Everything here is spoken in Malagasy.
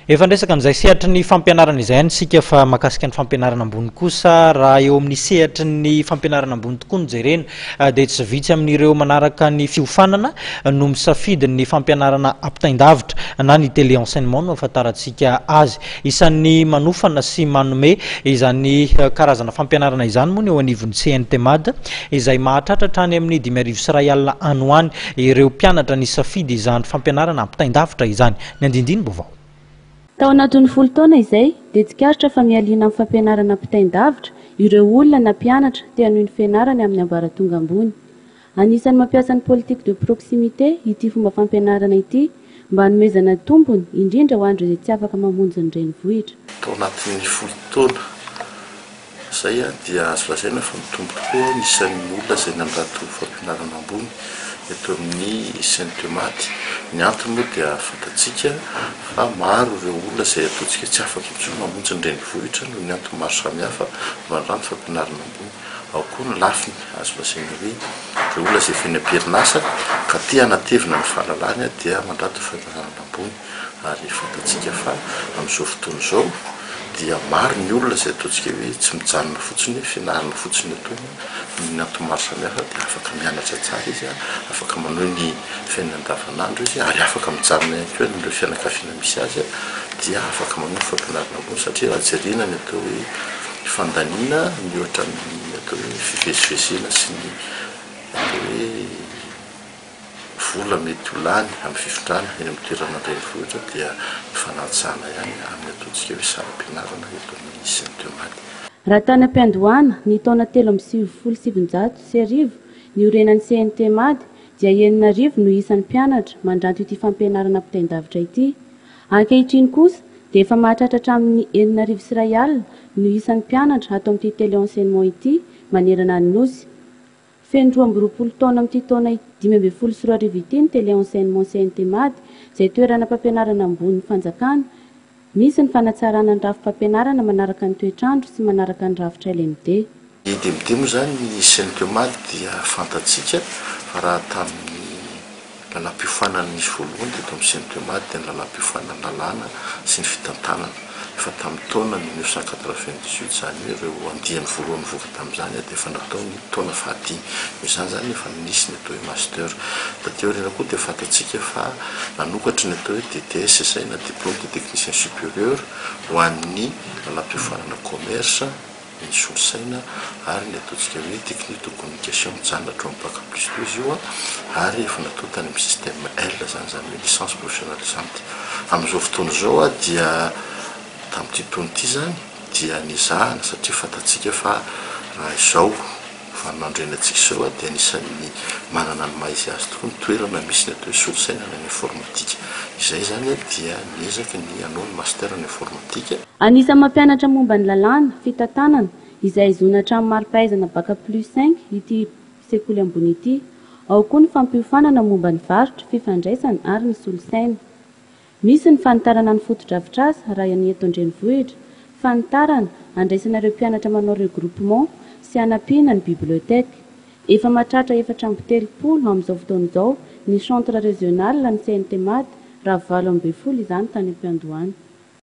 Efa niresaka an'izay sehatry ny fampianarana izay ihany isika fa mahakasika ny fampianarana ambony kosa raha eo amin'ny sehatry ny fampianarana ambony tokoa no jerena dia tsy vitsy amin'ireo manaraka ny fiofanana no misafidy ny fampianarana ampitain-davitra na ny télé-enseignement no ahafantarantsika azy. Isan'ny manofana sy manome izany karazana fampianarana izany moa ny eo anivon'ny CNTMAD izay mahatratra hatrany amin'ny dimy arivo sy iray alina any ho any ireo mpianatra nisafidy izany fampianarana ampitain-davitra izany. Ny andindinim-baovao. Tao anatin'ny folo taona izay, dia tsikaritra fa mialina amin'ny fampianarana ampitain-davitra ireo olona na mpianatra te hanohy ny fianarany amin'ny ambaratonga ambony. Anisan'ny mampiasa ny politique de proximité ity fomba fampianarana ity mba hanomezana tombony, indrindra ho an'ireo izay tsy afaka mamonjy ny renivohitra. Tao anatin'ny folo taona. Izay dia azo lazaina fa mitombo tokoa ny isan'ny olona izay nandrato fampianarana ambony eto amin'ny Sentematy. Ny antony moa dia fantatsika fa maro ireo olona izay ataontsika tsy afaka intsony mamonjy ny renivohitra noho ny antony maro samihafa mandra ny fampianarana ambony. Ao koa ny lafiny azo lazaina hoe ireo olona izay feno am-perinasa ka te hanatevina ny fahalalany dia mandrato fampianarana ambony. Ary fantatsika fa amin'izao fotoana izao dia maro ny olona izay ataontsika hoe tsy mijanona fotsiny hoe fianarana fotsiny ny ataony amin'ny antony maro samihafa dia afaka mianatra tsara izy, afaka manohy ny fiainany andavanandro izy ary afaka mijanona ihany koa eny amin'ireo fianakaviana misy azy dia afaka manohy ny fampianarana ambony satria raha jerena ny atao hoe fandaniana mihoatra amin'ny atao hoe fivezivezena sy ny atao hoe vola mety ho lany amin'ny fifindrana eny amin'ny toerana an-drenivohitra dia mifanantsana ihany amin'ny ataontsika hoe saram-pianarana eto amin'ny Saint Thomas. Raha tany am-piandohana ny taona telo amby sivifolo sy sivinjato sy arivo niorenan'ny Saint Thomas dia enina arivo no isan'ny mpianatra mandranto ity fampianarana ampitain-davitra ity. Ankehitriny kosa dia efa mahatratra hatramin'ny enina arivo sy iray alina no isan'ny mpianatra ato amin'ity Téléenseignement ity manerana ny Nosy. Feno roa amby roapolo taona amin'ity taona dimy ambin'ny folo sy roa arivo ity ny Télé Enseignement CNTMady, izay toeranam-pampianarana ambonin'ny fanjakana. Misy ny fanatsarana ny rafi-pampianarana manaraka ny toetr'andro sy manaraka ny rafitra LMD. Ny DMD moa izany ny CNTMady dia fantatsika fa raha tamin'ny. Lalam-piofanana nisy voalohany teto amin'ny Sentema dia ny lalam-piofanan'ny lalàna sy ny fitantanana. Efa tamin'ny taona mille neuf cent quatre-vingt-dix-huit izany hoe ireo andiany voalohany nivoaka tamin'izany dia efa natao ny taona fahadimy. Noho izany izany ny efa nisy ny atao hoe Master. Taty aoriana koa dia fantatsika fa nanokatra ny atao hoe DTSSI na Diplôme de Technicien Supérieur ho an'ny lalam-piofanana Commerce, ny solosaina ary ny ataontsika hoe technique de communication mijanona hatramin'ny bac plus deux izy io an, ary efa natao tany amin'ny système L izany, izany hoe licence professionnalisante. Amin'izao fotoana izao dia tamin'ity taona ity izany dia nezahana satria fantatsika fa raha izao vaninandro iainantsika izao dia anisan'ny manana ny maha izy azy tokoa ny toerana misy ny atao hoe solosaina any amin'ny informatika. Izay izany dia ny ezaka ny hanao ny master any informatika. Anisan'ny mampianatra momba ny lalàna, fitantanana, izay ahazoana hatramin'ny mari-pahaizana Bac plus cinq ity sekoly ambony ity. Ao koa ny fampiofanana momba ny varotra, fifandraisana ary ny solosaina. Misy ny fanitarana ny fotodrafitrasa raha ny eto an-drenivohitra, fanitarana, andraisana ireo mpianatra manao regroupement sy hanampiana ny bibliothèque. Efa mahatratra efatra amby telopolo amin'izao fotoana izao ny centre régional ny CNTMAD raha valo ambin'ny folo izany tany am-piandohana.